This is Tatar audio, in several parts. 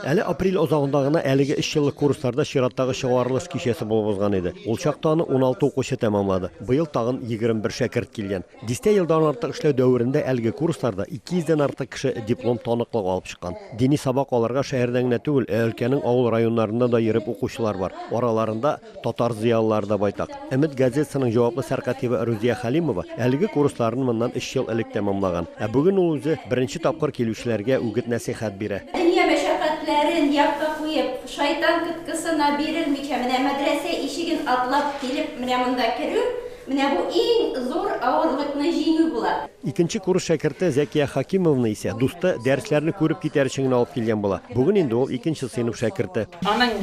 Әле апрель азагында гына әлеге өчьеллык курсларда чираттагы чыгарылыш кичәсе булып узган иде. Ул чакта аны 16 укучы тәмамлады. Быел тагын 21 шәкерт килгән. Дистә елдан артык эшләү дәверендә әлеге курсларда 200 дән артык кеше диплом таныклыгы алып чыккан. Дини сабак алырга шәһәрдән генә түгел, ә өлкәнең авыл районнарыннан да йөреп укучылар бар. Араларында. Татар зыялылары да байтак. Өмет газетасының җаваплы сәркатибе Рузия Хәлимова әлеге курсларны моннан өч ел элек тәмамлаган. Ә бүген ул үзе беренче тапкыр килүчеләргә үгет-нәсыйхәт бирә. Дөнья мәшәкатьләрен якка куеп, шайтан коткысына бирелмичә, менә мәдрәсә ишеген атлап килеп, менә монда керү, Менә бу иң зур авырлыкны җиңү була. Икенче курс шәкерте Зәкия Хакимованы исә дусты дәресләрне күреп китәр өчен генә алып килгән була. Бүген инде ул икенче сыйныф шәкерте. Аның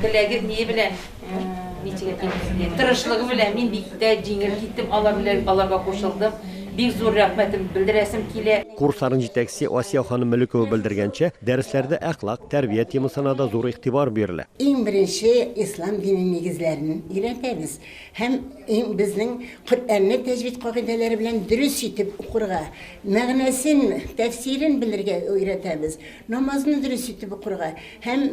теләге ние белән, ничек әйтим мин сезгә, тырышлыгы белән мин бик тә җиңел киттем, алар белән аларга кушылдым. Бик зур рәхмәтем белдерәсем килә. Курсларның җитәкчесе Асия ханым Мөлекова белдергәнчә, дәресләрдә әхлак, тәрбия темасына да зур игътибар бирелә. Иң беренче ислам дине нигезләрен өйрәтәбез. һәм иң безнең Коръәнне тәҗвид кагыйдәләре белән дөрес итеп укырга, мәгънәсен, тәфсирен белергә өйрәтәбез, намазны дөрес итеп укырга һәм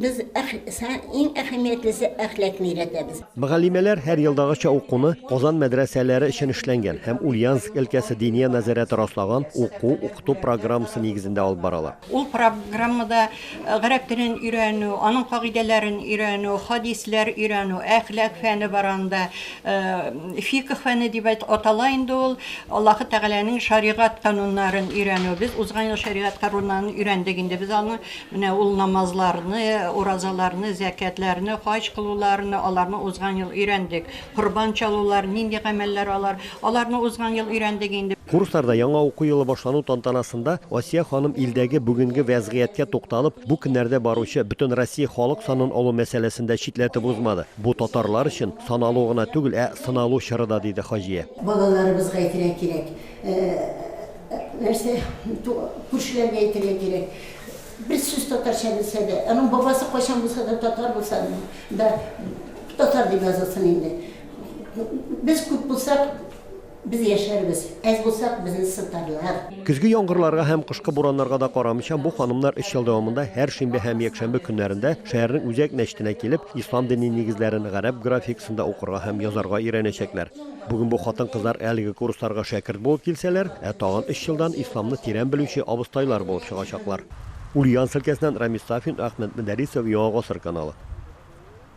без иң әһәмиятлесе әхлакны өйрәтәбез. Мөгаллимәләр һәр елдагыча укуны Казан мәдрәсәләре өчен эшләнгән һәм Ульяновск өлкәсе Диния нәзарәте раслаган уку-укыту программасы нигезендә алып баралар. Ул программада Гарәп телен өйрәнү, аның кагыйдәләрен өйрәнү, хадисләр өйрәнү, әхлак фәне бар анда. Фикх фәне дип атала инде ул. Аллаһы Тәгаләнең шәригать кануннарын өйрәнү. Без узган ел шәригать каруннарын өйрәндек инде без аны. Менә ул намазларны, уразаларны, зәкятләрне, хаҗ кылуларны, аларны узган ел өйрәндек. Корбан чалулар, нинди гамәлләр алар? Аларны узган ел өйрәндек инде. Курсларда яңа уку елы башлану тантанасында Асия ханым илдәге бүгенге вәзгыятькә тукталып, бу көннәрдә баручы Бөтенроссия халык санын алу мәсьәләсен дә читләтеп узмады. Бу татарлар өчен саналу гына түгел, ә сыналу чоры да, диде Хаҗия. Балаларыбызга әйтергә кирәк, нәрсә, күршеләргә әйтергә кирәк. Бер сүз татарча белсә дә, аның бабасы кайчан булса да татар булса да, татар дип язылсын инде. Без күп булсак, без яшәрбез, әз булсак, безне сытарлар. Көзге яңгырларга һәм кышкы бураннарга да карамыйча, бу ханымнар өч ел дәвамында һәр шимбә һәм якшәмбе көннәрендә шәһәрнең үзәк мәчетенә килеп, ислам дине нигезләрен гарәп графикасында укырга һәм язарга өйрәнәчәкләр. Бүген бу хатын-кызлар әлеге курсларга шәкерт булып килсәләр, ә тагын өч елдан исламны тирән белүче абыстайлар булып чыгачаклар. Ульяновск өлкәсеннән Рамис Сафин, Әхмәт Мөдәрисов, Яңа гасыр каналы.